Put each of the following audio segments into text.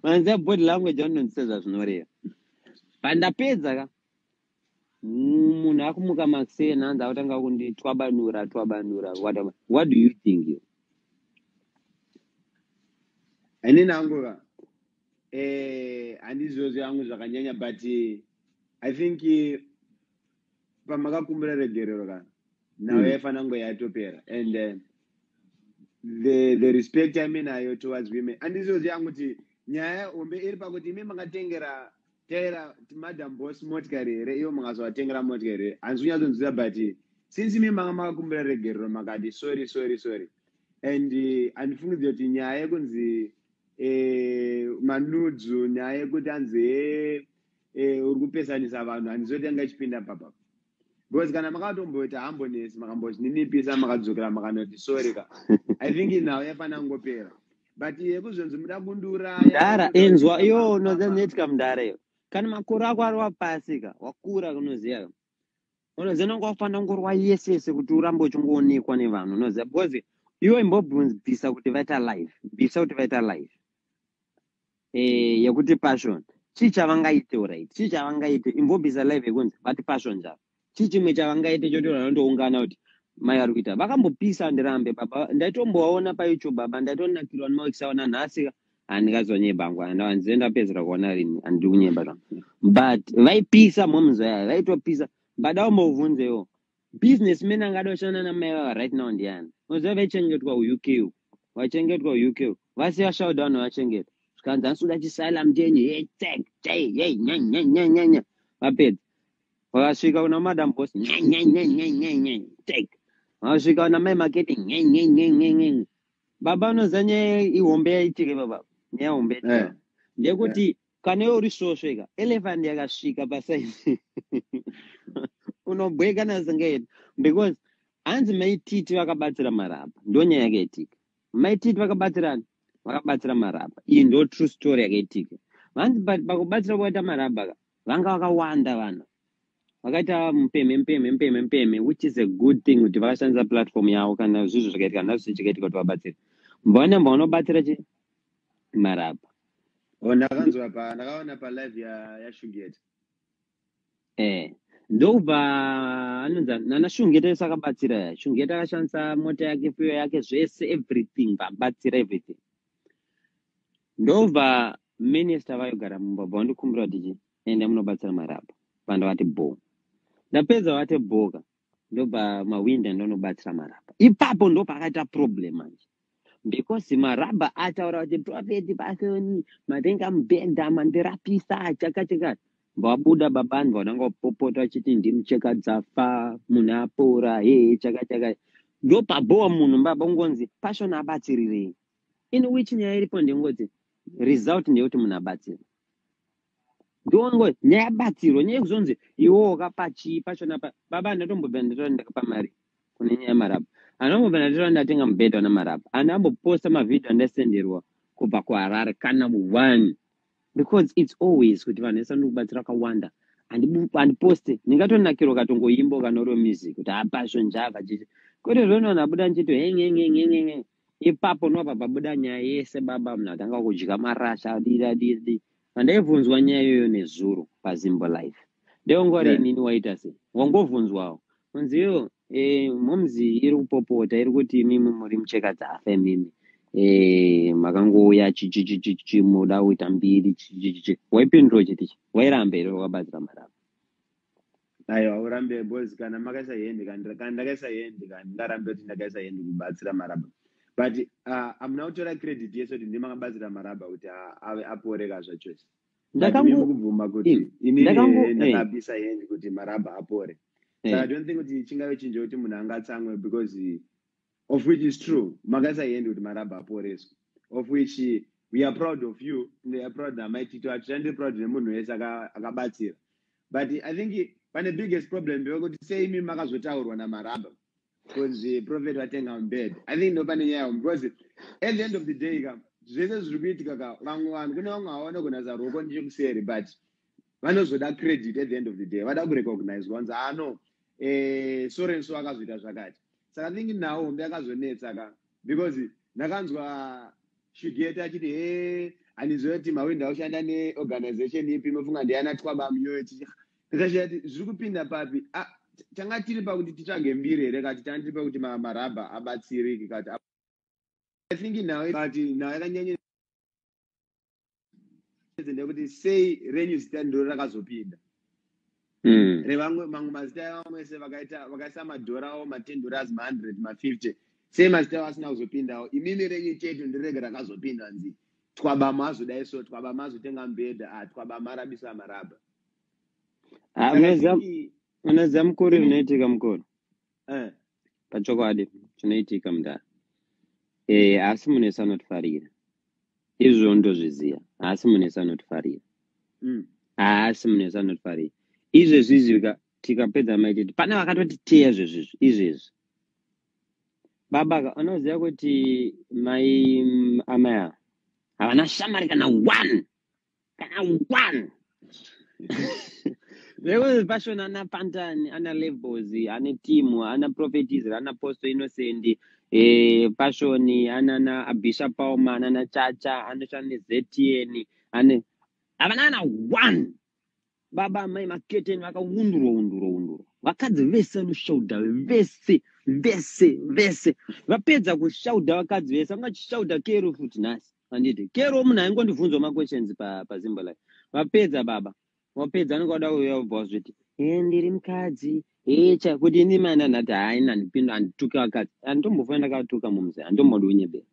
vanzi body language vanonzisa zvazvinoreva pandapedza ka munhu akumuka maksee nanzi akutanga kundi twabanura twabanura what do you think you ini nangova eh, handizvozvo yangu zvakanyanya but eh, i think eh, pamakakumbira regerero kana nhau yaifanira kunge yatopera and uh, the, the respect yaive nayo towards women andizoziva yangu kuti nyaya hombe iri pakuti imi makatengera taira madam boss motikari here ivo makazovatengera motikari here hanzi kunyatsonzwisa but since imi manga makakumbira regerero makati sorry sorry sorry and uh, andifungidzira kuti nyaya yekunzi eh, manudzu nyaya yekuti anzi hee eh, eh, uri kupesanisa vanhu handizoti yanga ichipinda papa because kana makatomboita hambonesi makambozvininipisa makadzokera makanoti sorry ka i think nhau yafanira kungopera but yekuzonzi muda kundiuraya mdara inzwa iyo unoza neti ka mdara iyo kana makore ako ari wapasi ka wakura unoziva ka unoziva nonga wafanira kungorwa yese yese kuti urambe uchingoonekwa nevanhu unoziva because iwe imbobvunzi bvisa kuti vaita live bvisa kuti vaita live eh, yekuti passion chii chavangaite orit chii chavangaite imbobvisa live yekunzi vati passion chavo chii chimwe chavangaite chotora vanondoungana kuti mai vari kuita vakambopisa ndirambe baba ndaitombovaona payoutube baba ndaitonakirwa nemawekisaona nhasi handingazonyeba hangu handizve ndapedzera kuona rini handiri kunyeba zvangu but vaipisa moms vaya vaitopisa mbada umbovhunzewo business man angada kushanda namai vava right now ndiani unoziva vaichengetwa uk u vaichengetwa uk u vasiya showdown vachengeta zvikanzi ansuda chisaila mtenyi hey tag tay hey nyanyanyanyanya vapedza vakasvika kuna madam boss nyanyanyanyanyanya tag vakasvika kuna mai marketing nyanyanyanyanyanya baba unoziva nyaya ihombe yaitike baba nyaya hombe yaitike yeah. ndekuti yeah. kana iwe uri svosve ka elephant yakasvika pasaizi unobweka nasingaiti because hanzi maititi vakabatsira marapa ndo nyaya yakaitika maititi vakabatsirani vakabatsira marapa iyi ndo true story yakaitika vanzi but pakubatsira kwaita marapa ka vanga vakawanda vanhu vakaita mupemhe mupemhe mupemhe mupemhe which is a good thing kuti vakashandisa platform yavo kana zvizvo zvakaitika nazvo zvichikaitika kuti vabatsire mbaona mbaona ubatsira chi marapa oh, ndakanzwa pa ndakaona pa live ya ya shugeta eh ndokubva anonzi nana shungeta yese akabatsira ya shungeta akashandisa mota yake fuyo yake zvese everything vabatsira everything ndobva minister vayogara mumba bva wandikumbira kuti chii enda munobatsira marapa bva ndavati bho ndapedza vate bhoka ndobva mawinda ndonobatsira maraba ipapo ndo pakaita problem manje because maraba ataura kuti profeti pasoni matenga mubhenda mandirapisa chakachakati vabuda baba vanhu vananga vapopota vachiti ndimucheka dzafa munhu apora hee chakachakati ndo pabhowa munhu baba kungonzi pasoni abatsirirei in which nyaya iripo ndingozi result ndeyekuti munhu abatsira ndongo nyaya yabatsirwa nyaya yekuzonzi iwo wakapa chii pachona pa baba andatombobva ndatora ndakapa mari kune nyaya yamarabu andambobva ndatora ndatenga mubhedha wana marabu andamboposta mavhidhio andasenderwa kubva kuharare kana one because its always kuti vanhu vese ndikubatsira kawanda andiposte ndingatonakirwa katongoimbo kanorwe music kuti hapazvo njava chichi kwete zvonona buda nchito hengengengengenge ipapo ndobva pabuda nyaya yese baba munhu atanga kudya marasha adii adii adii pandaibvunzwa nyaya iyoyo nezuro pazimbo life ndeongori Yeah. inini waita sei wangovhunzwawo kunzi yo eh, momzi iri kupopota iri kuti imimi muri mucheka dzafe mimi eh, makangouya chichichichichi muda kuita mbiri chichichichi waipindura chiti chi wairambe iro wakabatsira maramba Aiwa urambe boys kana makaisa hende kana kana ndakaisa hende kana ndarambe kuti ndakaisa hende kubatsira maraba. But uh, amuna kutora credit yese kuti ndimi makabatsira maraba kuti a- ave apore kazva chose. But Ndakango- ndimi kubvuma kuti Eh, inini ndakango- here eh. ndakabisa hende kuti maraba apore. Saka I Eh, don't think kuti chingave chinje kuti munhu angatsamwe because of which is true makasaiende kuti marabha aporeswe of which we are proud of you and are proud namai tito hatishandi proud nemunhu wese akabatsira but i think pane biggest problem ndevekuti sei imi makazotaurwa namarabha because eh, prophet vatenga mbed i think ndopane nyaya yavo because at the end of the day ka zvese zviri kuitika ka vamwe vanhu kune vamwe havaone kunasa ruoko ndichikuseri but vanozoda credit at the end of the day vada kurecognizwa vanzi ah no eh, sorenso akazvita zvakati saka thingi now hombe akazonetsa ka because ndakanzwa shugeta achiti he eh, handiziva kuti mawindi aushanda neorganization ipi mofunga ndiyana twaba muyoyo tikashaya ti zviri kupinda papi ah, tanga tiri pakuti titsvage mbiri here kati tanga tiri pakuti marabha abatsiriki kati i think now but now yakanyanya ndekuti sei renyu zita ndiro rakazopinda mm. revamwe mamwe mazita evamwe se vakaita vakaisa madhora avo matendora azi mahundred mafifty sei mazita avo asina kuzopindawo imimi renyu chete ndirege rakazopinda nzi twabama hazodai so twabama azotenga mbhedha a ah, twabama arabisa marabha ah, unoziva mukori unoitika mukori Eh, pachokwadi chinoitika mudhara eh, asi munesi anotifarira izvo ndozviziva haasi munesi anotifarira mm. haasi munesi anotifarira izvezvi izvi tikapedza maititi pane vakatotiteya zvezvizvi izvezvi baba unoziva kuti mai amai ava havana shamari kana one one vekuti pashona ana pantani ana levels ane timu ana prophetis ana posto innocent e, eh, pashoni anana abisha pauma anana chacha anoshanda nezetn ane havana ana one baba amai maketeni vakaundurwa undurwa undurwa vakadzi vese vanoshauda vese vese vese vapedza kushauda vakadzi vese vanga chishauda kero futi nhasi handiti kero munhu aingondibvunzwa maquestions pazimbo life vapedza baba wapedza anenge wada uya ubva wazviti e ndiri mukadzi echa kuti ini mani anati haina ndipinda handituki vakadzi handitombofa ndakatuka mumzi handitombodi unyebera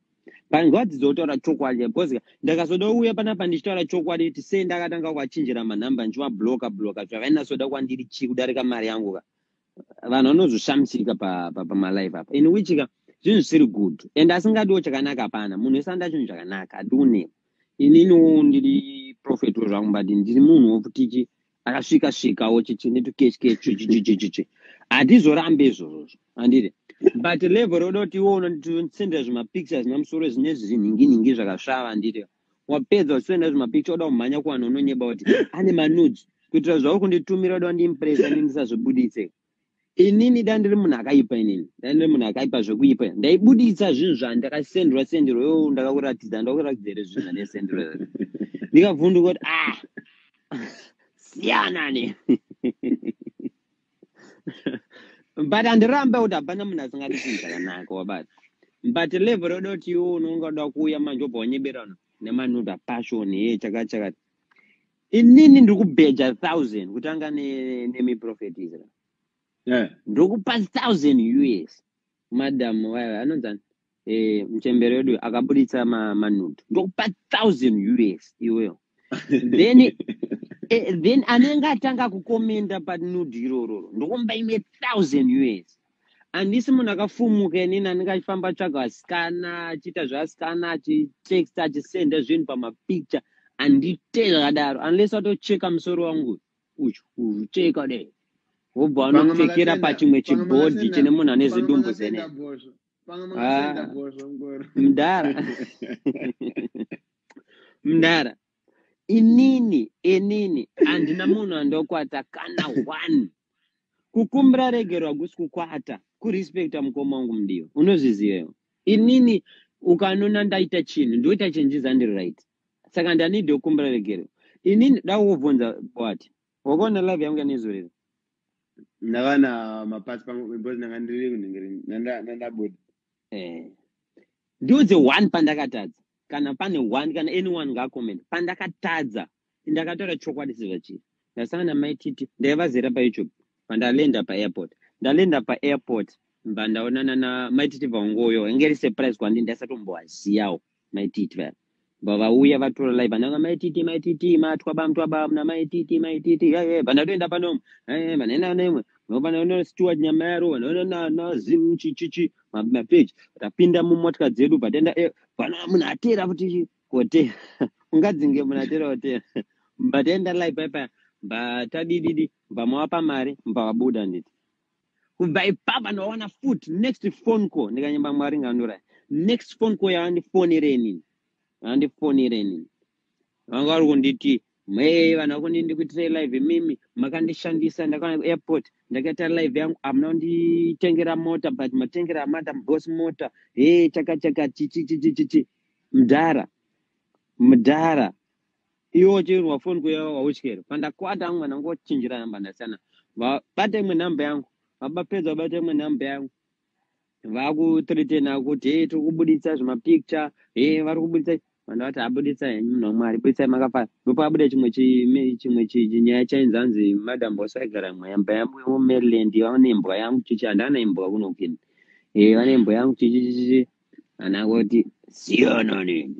but ngwadzidzo kutaura chokwadi because ndakazoda uya panapa ndichitaura chokwadi kuti sei ndakatanga kuachinjira manhamba ndichimabloka bloka zvakainasoda kwandiri chii kudarika mari yangu ka vanhu vanozoshamsika pamalive pa, pa, apa in which ka zvinhu zvisiri good and asingadiwo chakanaka hapana munhu wese anda chinhu chakanaka adiunewo ininiwo ndiri profet wezvangu but ndiri munhu wokutichi akasvika svikawo chichi netukechikechuchichichichichi hatizorambe izvozvozvo andiri but level roda kuti iwo unondisendera zvimapictures namusoro zvine zviri nhinginhingi zvakasvava andiri wapedza usenda zvimapicture oda kumhanya kuvanhu unonyeba kuti ane manudes kuitira zvauri kunditumira oda kundiimpresa ini ndisazvibuditse inini da ndiri munhu akaipa inini da ndiri munhu akaipa zvekuipa ndaibuditsa zvinhu zvandakasendwa sendiro yo ndakakuratidza ndakuratidza here zvinhu zvandaisendiro ndikavhunduka kuti ah siyana ne but handirambe kuti hapana munhu asingadi chinhu chakanaka wabata but level roda kuti iwo unonga uda kuuya manje obva wanyeberana nemanuda passion ye chakachakati inini ndiri kubheja thousand kutanga nemiprofetisra yeah. ndokupa thousand us madam wayo anonzani eh, mchembere wedu akaburitsa ma- manudo ndokupa 1000 us iweyo then eh, then anenge atanga kukomenda panudo irororo ndokumba imwe 1000 us handisi munhu akafumuka inini anenge achifamba atsvaga vasikana achiita zvevasikana achitext achisenda zvinhu pamapicture handite zvakadaro unless watocheka musoro wangu uyu. uchiteka kudai wobva wanopfekera pachimwe chibhodhi chine munhu ane zidumbu zene ah, mdara mdara inini inini handina munhu andokwata kana one kukumbira regerwa kusi kukwata kurespecta mukoma wangu mudiwa unozvizivewo inini ukanona ndaita chinhu ndoita chenjiza ndiri right saka ndanidi okumbira regerero ini ndoda kukubvunza wati wakaona live yangu yanezorero ndavana mapasi pangu because ndanga ndiri kunhingiri nandabuda eh. ndiudze one pandakatadza kana pane one kana anyone ngaacoment pandakatadza ndakataura chokwadi sezvachii ndasangana maititi ndaivazera payoutube pandalenda paairport ndalenda paairport mba ndaonana na maititi vaungoyo inge ri surprise kwandi ndaisatomboaziyawo maititi vaya bva vauya vatora live vananga maititi maititi matwa bamtwa bamna maititi maititi yaye vanatoenda panomu yaye vanaenda nemwe vanoona steward nyama yaro vanoona nazim chichichi mapage tapinda mumotya dzedu bvataenda eh, vana munhu atera kuti kote ungadzinge munhu atera kotera bvataenda live paya paya bvatadididi bvamawapa mari bvavabuda nditi kubva ipapa ndawana fut next phone call ndikanyemba mwari ngandura next phone call yavandifonere inini vandifonere inini vanga vari kunditi mhee vanhu vakundi ndikuitirei live imimi makandishandisa ndakaona airport ndakaita live yangu amuna kunditengera mota but matengera madam boss mota hee chakachaka chichichichichichi mdhara mdhara iwo chirwa phone kuya wauchikere pandakwata amwe mwana ngochinjira namba ndasiyana vabate imwe namba yangu vabapedza vabate imwe namba yangu vakutretena kuti hey, tiri kubuditsa zvimapicture he hey, vari kubuditsa vanhu vati abuditsa henyu munhu wamwari buditsai makafara ndopabuda chimwe chimwe chinyaya chainzi hanzi madam boss aigara imwe yamba yangu yemumaryland vane imbwa yangu chichi handana imbwa kunokini e eh, vane imbwa yangu chichichichi anangoti siyananeni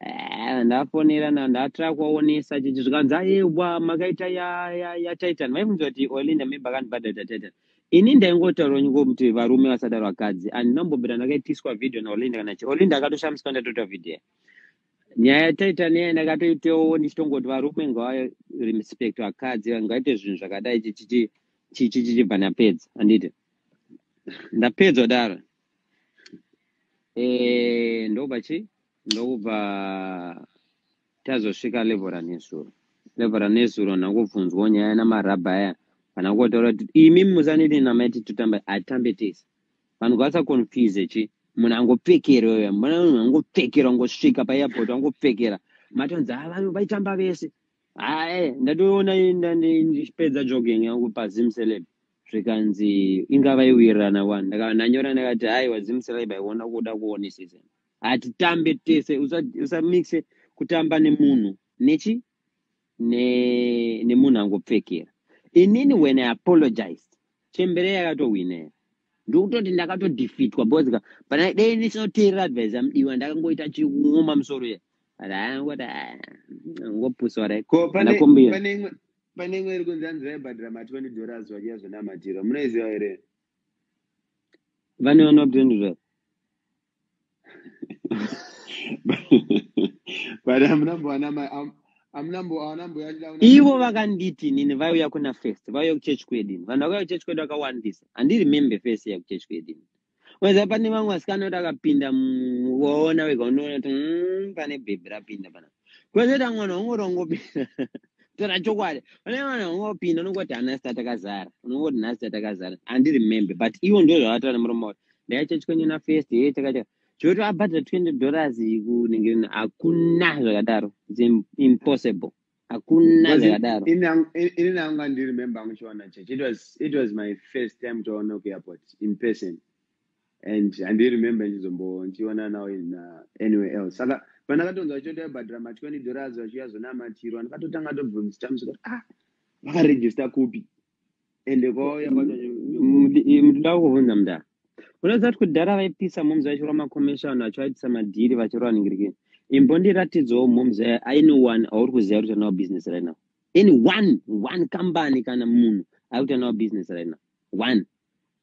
Eh, ndafonera na ndatira kuvaonesa chichi zvikanzi ayewa makaita ya ya ya titan vaibvunza kuti olinda memba akandibhadharita titan ini ndaingotaura nyuko kuti varume vasadaro vakadzi and ndinombobira ndakaitiswa video naolinda kana chi olinda akatoshamiswa ndatoita video nyaya yatitan iya ndakatoitewo ndichitongoti varume ngavarespect vakadzi ngaite zvinhu zvakadai chichichi chichi chichibva ndapedza anditi ndapedza kudaro Eh, ndobva chi ndokubva tazosvika level ranezuro level ranezuro nakubvunzwawo nyaya namarabha aya kana kotaura kuti imi musaneti namaiti totamba atambe tese vanhu vasaconfuse chi munhu angopfekera uya mbona munhu angopfekera ungosvika paairport angopfekera matonzi ha vanhu vaitamba vese hae ndatoona ndipedza jogging yangu pazim celeb zvikanzi ingava iwirirana wani ndakava ndanyora ndakati aiwa zimusirai baiona kuda kuonesesa hatitambe tese usamixe usa kutamba nemunhu nechi nemunhu ne angopfekera inini when i apologized chembere yakatohwinera ndokutoti ndakatodefeatwa because ka pana dei ndichinoteerera advise yamudiwa ndakangoita chikun'oma musoro ye but aangoti ah, ngopusa rai ko pane imwe pane imwe iri kunzi hanzi vaibhadhira ma 20 dollars vachiya zvinamatirwa munoiziva here vane vanoa 20 dollars but amunambowana amunambowana mbuya ivo vakanditi nini vaiuya kuna first vaiuya kuchurch kwedu ini vanhu vakauya kuchurch kwedu vakawandisa handiremembe first ya kuchurch kwedu ini Weza pane vamwe vasikana kuti akapinda muona wega unoona kuti mm, pane bhebhi rapinda pana. Kwezoita mwana wangoti wangopinda. Tora chokwadi. Pane mwana wangopinda unongoti hana sita takazara. Unongoti nhasi sita takazara. Handi remember but ivo ndizvo zvavataura nemuromo wavo. Ndaicha chikwenye na first hey takacha. Choti abhadhara 20 dollars kunenge hakuna zvakadaro. It's im- impossible. hakuna zvakadaro ini nangu andiremember angu chiwana church it was, it was my first time toona kuairport in person and andiremember ndichizombo ndichiona now in uh, anywhere else saka pandakatonzwa vachiota vabhadhira ma 20 dollars vachiuya zvonamatirwa ndakatotanga tobvunzita musika ah vakaregista kupi ende kwauya kwacho mudida kuvhunza muda unoziva kuti kudhara vaipisa momzi vachirwa makomishoni vachivaitisa madhiri vachirwa vaningirikini imbondiratidzawo momzi aine one auri kuziva kuti anawo business right now in one one company kana munhu ari kuti anawo business right now one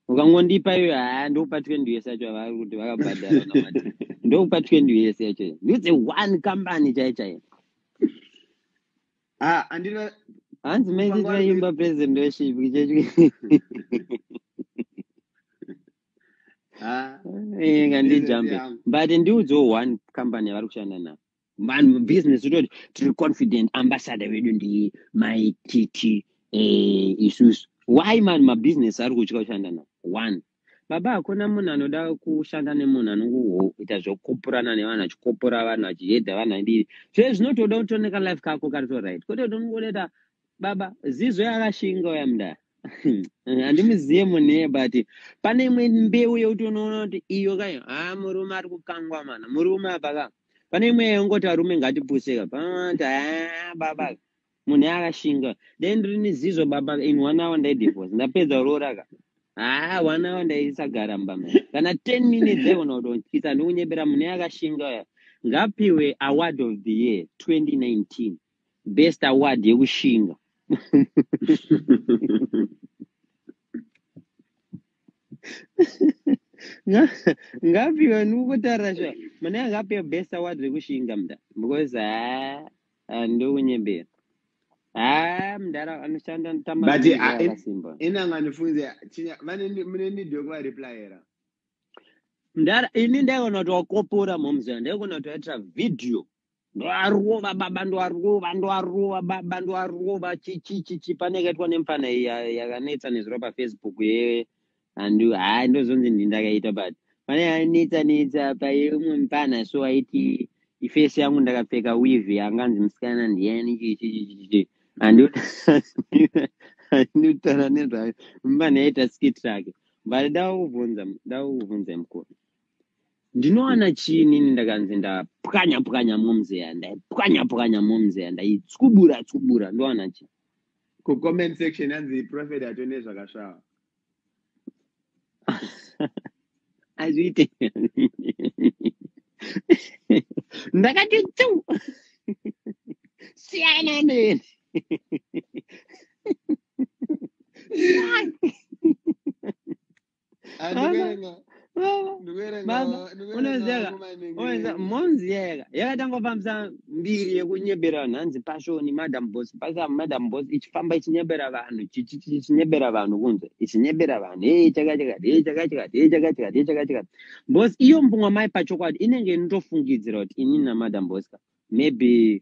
ukangondipa iyoyo haa ndokupa twenty years yacho avari kuti vakabhadhara namati ndokupa twenty years yacho ndiudze one company chaiye chaiye Ah, andina hanzi manje tinoimba president weshipi kichechwi ah, inga ndijambe but ndiudzewo one company yavari kushanda navo vanhu business utoti tiri confident ambassador vedu ndi my tt eh, isusu why man mabusiness ari kutya kushanda navo one Baba hakuna munhu anoda kushanda nemunhu anongoita zvokupurana nevanhu achikopora vanhu achihedha vanhu adii zve zvinotoda kutoneka life kako kari to right kwete kuti unongoita baba zizo yakashinga uya mudaya handimuziye munhu iye but pane imwe mbeu yekuti unoona kuti iyo kayo ha murume ari kukangwa mana murume apa ka pane imwe yekungoti varume ngatipuseka pamati ha baba munhu akashinga dai ndiri nezizvo baba in one hour ndaidivorce ndapedza kuroora ka haa one hour ndaisagara mbama kana ten minutes aigona kutotyisa ndikunyebera munhu akashinga uya ngapiwe award of the year 2019 best award yekushinga ngapiwe ndikukutarira sha munenge ngapiwe best award rekushinga mda because haa Ah, ndounyebera haa ah, mdara anoshanda tamaaakasimba ah, inanga anofunze chinya vane mune need yokuvareplyera mdara ini ndaigona kuti wakopora momzana ndaigona kuti waitira vhidhiyo ndoarova baba ndoarova ndoarova baba ndoarova chichichichi pane kaitwa nemfana yakanetsa nezuro pafacebook ye handu haa ndozonzi ndi ndakaita but pane yanetsa netsa payeumwe mupana so aiti ifesi yangu ndakapfeka weave yanganzi musikana ndiyani chichichichichi handutaura nezvayo mupana yaita skit rake but ndakakubvunza ndakakubvunza mukuru ndinowana chii nini ndakanzi ndapwanya pwanya momzeya ndaipwanya pwanya momzeya ndaitsubura tsubura ndowana chii kucomment section anzi prophet atone zvakasvava hazviite ndakati tu siyana neni andiverenga baba monzi yayaka yakatangofambisa mbiri yekunyebera vanhu hanzi pashoni madam bos pasa madam bos ichifamba ichinyebera vanhu chichinyebera vanhu kunze ichinyebera vanhu hei chakachakati hei chakachakati hei chakachakati hei chakachakati bos iyo mbunga mai pachokwadi inenge inotofungidzira kuti ini namadam boska maybe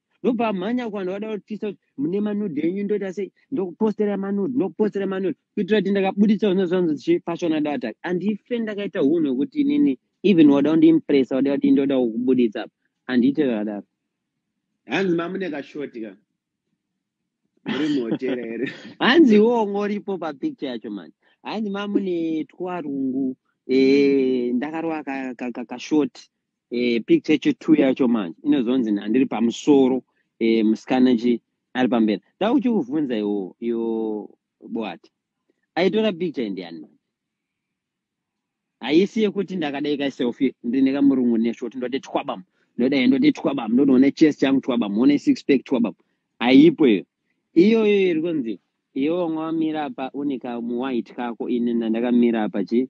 ndobva amhanya kuvanhu vada kutisa kuti mune manude enyu ndoita sei ndokupostera manude ndokupostera manude kuitira kuti ndakabuditsa zvinhu zvanzi zvichipashona data handife ndakaita hunhu hwekuti inini even wada kundiimpressa wada kuti ndoda kukubuditsa apa handiite zvakadaro hanzi mamune kashoti ka muri muhotera here hanzi iwowo ngoripo papicture yacho mani hanzi mamune twarungu eh, ndakarova kashoti ka, ka, ka, ka e, picture yechi two yacho manje inozonzi handiri pamusoro e, musikana chi ari pamberi da uchikuvhunza iwo yo boati aitora picture indiani manje haisi yekuti ndakadai ka selfie ndine kamurungu neshoti ndoti twabam ndodai ndoti twabam ndotoona chest changu twabam one six pack twabam haipo iyo iyoyo iri kunzi iwe wanga wamira pa une kamuwhite kako ini nandakamira pa chi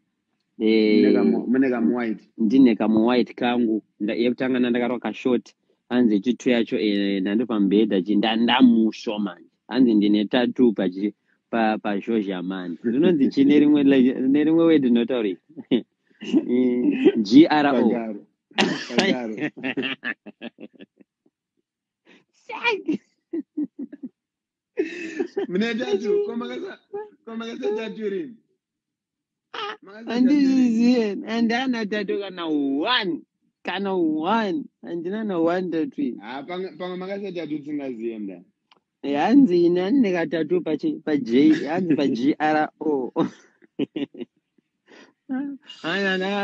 mune kamu white ndine kamu white kangu yekutanga ndandakarwa kashort hanzi chitu yacho eh, ndando pamubhedha chi ndandamusho manje hanzi ndine tatu pachi pazhozha mani rinonzi chi nerimwe nerimwe word rinotauri gro mune tatu komakasa tatu rini handizviziye handana tatu kana one kana one handina na one tatu ini ah, pamwe makasa tatu tsingaziye mda hanzi ini andine katatu paji hanzi pagro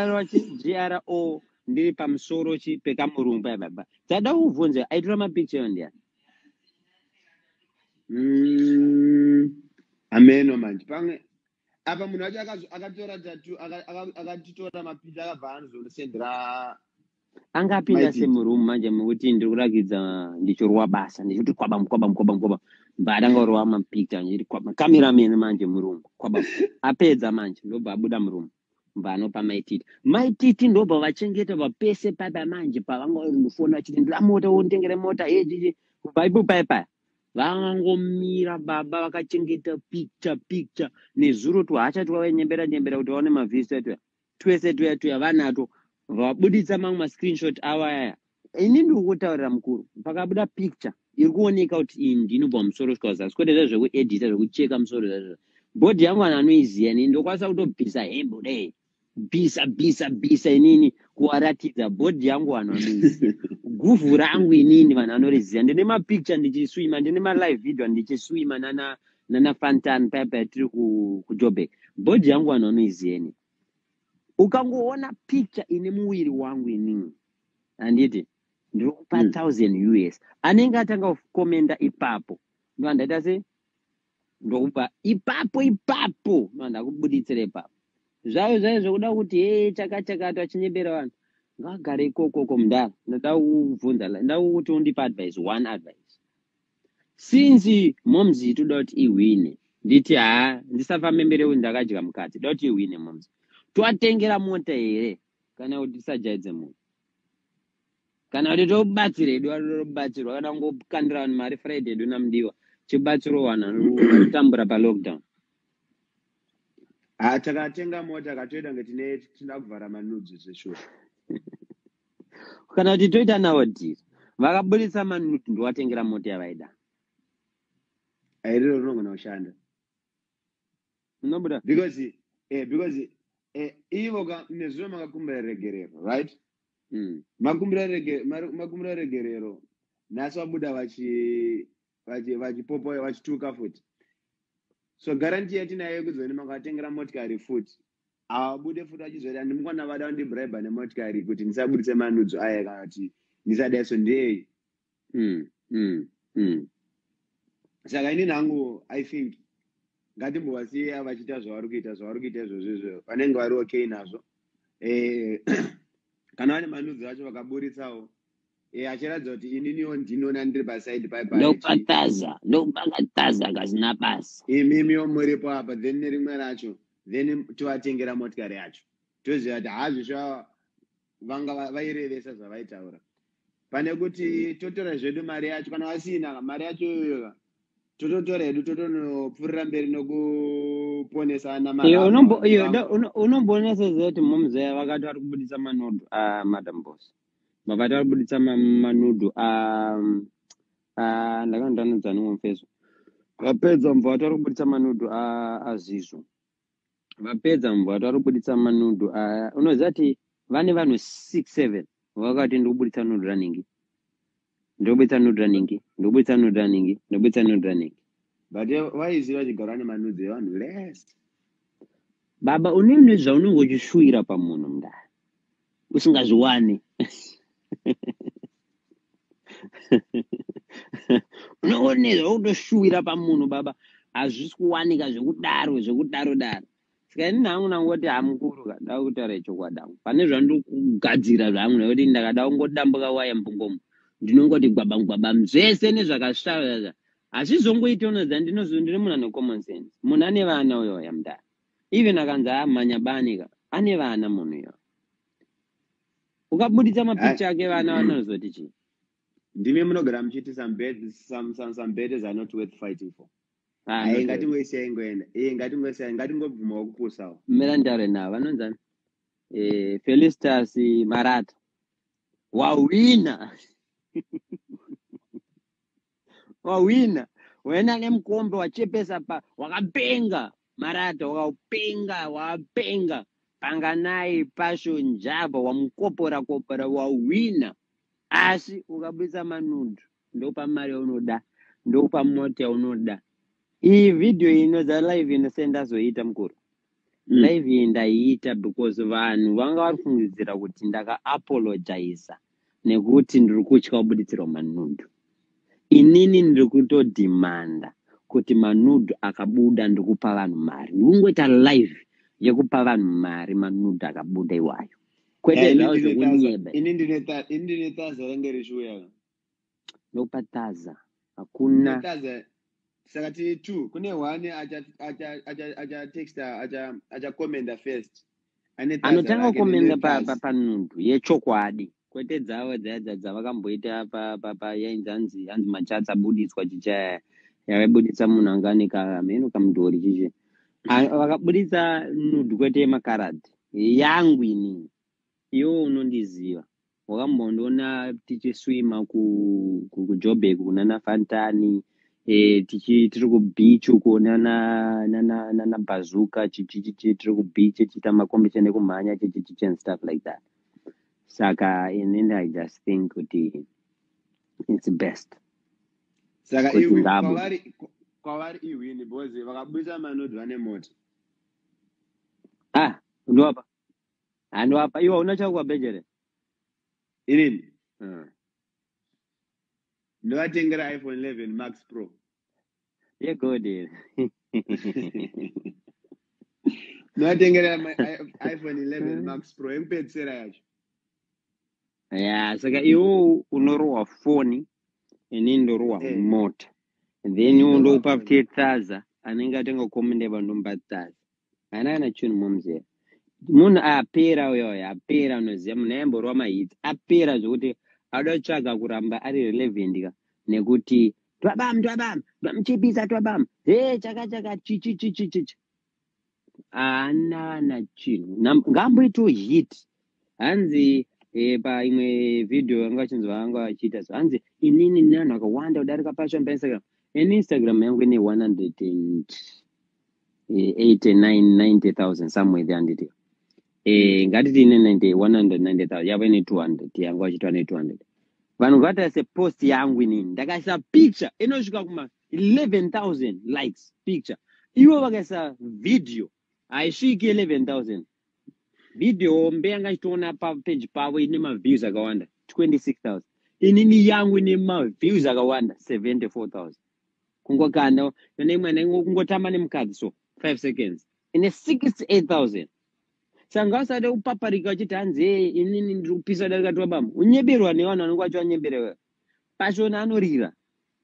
gro ndiri pamusoro chi pekamurungu paya baba tada uvhunze aitora mapicha yo ndiya mm, ameno manje pamwe apa munhu wacho akatora tatu akatitora mapicha akabva anozondisendera anga apinda se muroom manje mukuti ndiri kurakidza ndichorwa basa ndichiti kwaba mkwaba mkwaba mkwaba mbada anga orwa mapicture ndichiti kwaba kamera mene manje muroom kwaba apedza manje ndobva abuda muroom mbva anopa maititi maititi ndobva vachengeta vapese paipa manje pavanga vari mufoni vachiti ndira mota wondengere mota ejeje kubva ipo paipaya vangomira baba vakachengeta picture picture nezuro twahacha twavaenyembera nyembera kuti vaone mavhisto atoya twese tuya tuya vanato vabuditsa mamwe mascreenshot avo ayaya ini ndiri kutaurira mukuru pakabuda picture iri kuoneka kuti iyi ndinobva musoro svika zasi kwete zva zvekuedita zvekucheka musoro zvazvo bhodhi yangu vanhu vanoiziva ini ndokwanisa kutobvisa hembe dai bvisa bvisa bvisa inini kuwaratidza bhodhi yangu vanhu vanoiziva guvhu rangu inini vanhu vanoriziva ndine mapicture ndichiswima ndine malive video ndichiswima nana nana fantan paya paya tiri ku- kujobek bhodhi yangu vanhu vanoiziva ini ukangoona picture ine muviri wangu inini handiti ndiri kupa Mm. 1000 us anenge atanga kukomenda ipapo ndova ndaita se ndokupa ipapo ipapo ndova ndakubuditsira ipapo zvayo zvayo zvekuda kuti hee chakachakatwa chinyebera vanhu ngagare ikokoko mudhara ndoda kukubvunza la- ndoda kuti undipe advice one advice since moms toda kuti ihwine nditi haa ndisafambe mberi kuti ndakadya mukati toda kuti ihwine moms toatengera mota here kana kuti tisajaidze munhu kana kuti tobatsira hedu anobatsirwa kana kungokandira vanhu mari friday hedu namudiwa chibatsiro vanhu vanotambura palockdown ah, takatenga mota katoita kunge tine tinoda kuvhara manudzi zveshuwa kana kuti toita nawo dhiri vakaburitsa mani kuti ndiwatengera mota yavaida airiro rinogona kushanda unobuda because eh, because eh, ivo ka nezuro makakumbira regerero right mm. makumbira rege, mar- makumbira regerero nhasi vabuda vachi vachipopoya vachituka futi so garanti yatinayo yekuzoni makatengera motikari futi havabude futi vachizoti andimukwana vada vandibraiba nemotikari kuti ndisabudise manudzo aya kana kuti ndisadaiso ndei mm, mm, mm. saka inini hangu i think ngatimbovasiya vachiita zvavari kuita zvavari kuita izvozvo izvo vanenge vari okay nazvo eh, kana vane manudzo acho vakaburitsawo Eh, achiratidza kuti ininiwo ndinoona ndiri pasaidi pai pai ndokataza ndokakataza kasina basa imimiwo muripo apa then nerimwe racho then tovatengera motikari yacho toziva kuti hazvisva vanga va- vairevesa zvavaitaura pane kuti totora zvedu mari yacho kana vasina ka, mari yacho iyoyoka tototora hedu totonopfuurira mberi nokuponesa ana mari iyo avo unombo- iyo vanga- da- uno- unomboona seziva kuti momzaya vakati vari kubudisa manodo amadam boss vakati vari kubuditsa manudhu ndakandanudza nimwe mufeso vapedza mubva vati vari kubuditsa manudhu azvizvo vapedza mubva vati vari kubuditsa manudhu unoziva ti vane vanhu six seven vakati ndikubuditsa nudhu ranhingi ndobuditsa nude running ndobuditsa nude running ndobuditsa nude running but vaizvi vachigara nemanudzi evanhu les baba une une zvaunenge uchishuwira pamunhu mndani usingazviwani unoonezva kutoshuwira pamunhu baba hazvisi kuwanika zvekudaro zvekudaro daro saka ini hangu ndangoti hamukuru ka ndava kutaura chokwadi hangu pane zvandiri kugadzira zvangu nekuti ndakada kungodambuka waya mbungomo ndinongoti gwabam gwabam zvese nezvakasvava asi zvongoita unoziva ndinoziva ndiri munhu ane common sense munhu ane vana uyo yamdara even akanzi amhanya bani ka ane vana munhu iyo ukabuditsa mapicha ake vana vanozoti chii ndimi munogara muchiti some beds, some, some, some beds are not worth fighting for Ah, Aye, not ngatingoisiya ingoenda iye ngatingoisiya ngatingobvumawo kupusawo really. mira nditaure navo vanonzani eh, felistas marata wahwina wahwina wena nemukombe wachepesa pa wakapenga marata wakapenga wakapenga panganai pasho njava wamukopora kopora wahwina asi ukabudisa manundu ndokupa mari yaunoda ndokupa mota yaunoda iyi vhidhiyo ino dza live ino se ndazoiita mukuru mm. live iyi ndaiita because vanhu vanga vari fungidzira kuti ndakaapologiza nekuti ndiri kutya kubuditsirwa manundu inini ndiri kutodhimanda kuti manudhu akabuda ndikupa vanhu mari ndikungoita live yekupa vanhu mari manudhu akabuda iwayo kwete Eh, ini zvawo ndine taza- zvekunyeba ini ndine ta- ini ndine taza range richiuya nopataza Ndine hakuna taza saka tiri two kune one acha- acha- acha- achatexta acha- achakomenda first ane taza anotanga rake kukomenda nendine pa, pa, taza panhundu yechokwadi kwete dzavo dzaya dza- dzavakamboita pa, pa, pa yainzi hanzi hanzi machatsi abuditswa chichaya yavaibuditsa munhu anga ane kamheno kamudhori chichi A- vakabuditsa nudu kwete yemakaradhi yangu ini iwe unondiziva wakambondiona tichiswima kujobek kunana fantani e, tichi tiri kubeach uko nana nana nana bazuka chichichichi tiri kubeach chiita makombisheni ekumhanya chichichichi and stuff like that saka in end i just think kuti it's best saka kwavari iwini because vakabudisa manodwa nemoto ah ndovapa ah ndovapa iwe hauna chako kwabeche here inini Ah. ndovatengera iphone 11 max pro yegodi here ndovatengera ma- i- iphone 11 max pro yekupedzisira yacho ya saka iwo unorohwa foni ini ndorohwa Eh. mota then iwo ndokupa futi tsaza anenge atenga komende vandomba tsaza haana kana chinhu momzera munhu apera uyo uyo apera unoziva munhu ayamborova mahits apera zvekuti auda kutsvaga kuramba ari relevant ka nekuti twabam twabam twamuchipisa twabam he chaka chaka chichi chichi chichi haana na chinhu Nam- ngaamboitawo hit hanzi eh, paimwe video yanga achinzi vaanga achiita so hanzi inini ndine vanhu vakawanda kudarika pashan painstagram ini instagram yangu ine 189 somewhere there handiti eh, ngatiti ine 90 190000 yavo ine 200 yangu achitwa ne 200 vanhu vakatarisa post yangu inini ndakaisa picture inosvika kuma 11000 likes picture ivo vakaisa video haisviki 11000 video hombe yanga ichitoona papeji pavo ine maviews akawanda 26000 inini yangu ine maviews akawanda 74000 kungokanda kana imwana kungotamba nemukadzi so 5 seconds ine 68000 sanga usade kupaparika wachiti hanzi ee inini ndiri kupisa darika tiwabama unyeberwa nevana vanenge wacho vanyebera wewe pashona anorira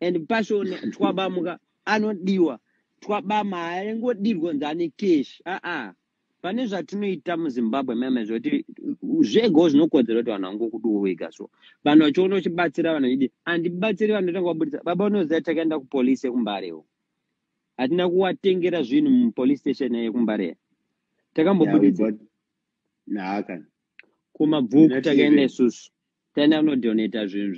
and passion twabamuka anodiwa twabama haangodirwe kunzi ane cash aa pane zvatinoita muzimbabwe meme zvekuti zvegawo zvinokodzera kuti vanhu vangokudiwo wega so vanhu vachiona uchibatsira vanhu vachidi handibatsiri vanhu ndotanga kubudisa baba unoziva takaenda kupolisi yekumbarewo hatina kuwatengera zvinhu mupolice station yekumbareya takambobudisa yeah, kumabvuku takaenda isusu tani anodonata zvinhu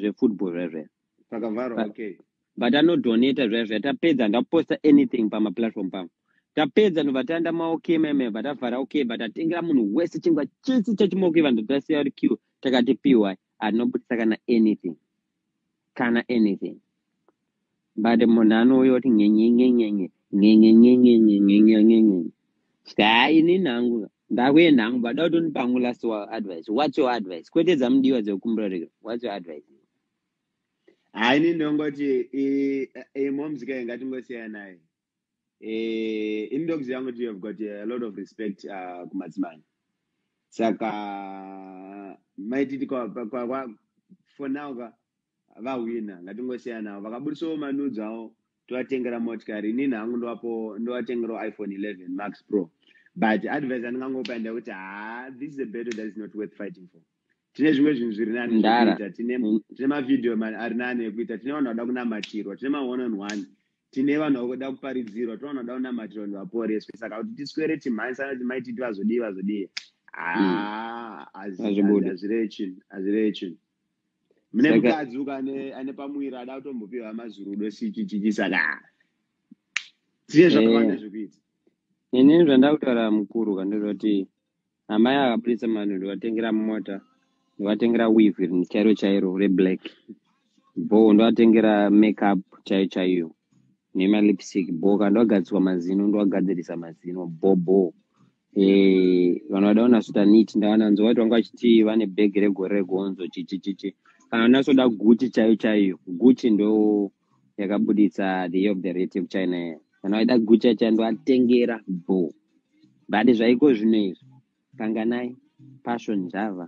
zvefootball zvezve pakavharwa okay but anodonata zviya zviya tapedza ndaposta anything pamaplatform pangu tapedza ndobva taenda maok meme vatavhara ok vatatengera munhu wese chingwa chese chachimokeva ndotasiya kuti q takati py anobudisa kana anything kana anything but munhu anouya kuti nyenyenyenyenye nyenyenyenyenyenyenyenyenye sika ha ini nangu ndakuye nangu bada kuti undipangu last wa advice whats your advice kwete dzamudiwa dzekukumbira rega whats your advice ha ini ndongoti imomzika ingatingosiyanayi eh, in dogs yangu you have got a lot of respect uh, kumadzimai saka maititi for now ka vahwina ngatingosiyanavo vakabudisawo manudzo avo tovatengera motikari inini hangu ndovapo ndovatengerawo iphone 11 max pro but advice andingangopa ndekuti ha this is a battle that is not worth fighting for tine zvimwe zvinhu zviri nani zvekuita tine mavhideo ari nani ekuita tine vanhu vada kunamatirwa tine ma one on one tine vanhu vakuda kuparidzirwa tinoona kuda kunamatirwa vanhu vaporeswe saka kuti tiswere timhanyisa kuti mai titi vazodii vazodii haa hmm. hazvireve chinhu hazvireve chinhu mune mukadzi uka ane pamuviri ada kutombopiwa mazurudo sichichichi saka tiye zvakawanda eh. zvekuita ini zvandakutaura mukuru kandizoti amai ava purisa manu ndovatengera mota ndovatengera weave chairo chairo reblack bo ndovatengera makeup chaiyo chaiyo nemalipstick bo ka ndovagadziswa mazino ndovagadzirisa mazino bo bo eh, vanhu vada kunasota nit ndavananzo vati vanga vachiti vane bhegi regore regonzo chichichichi kana unasoda guchi chaiyo chaiyo guchi ndo yakabuditsa the year of the rat yekuchina iya kana waida gucha chando atengera bo but zvaiko zvino izvi kanganai passion java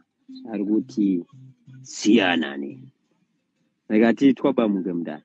ari kuti siyanani like atiitwa bamuke mudana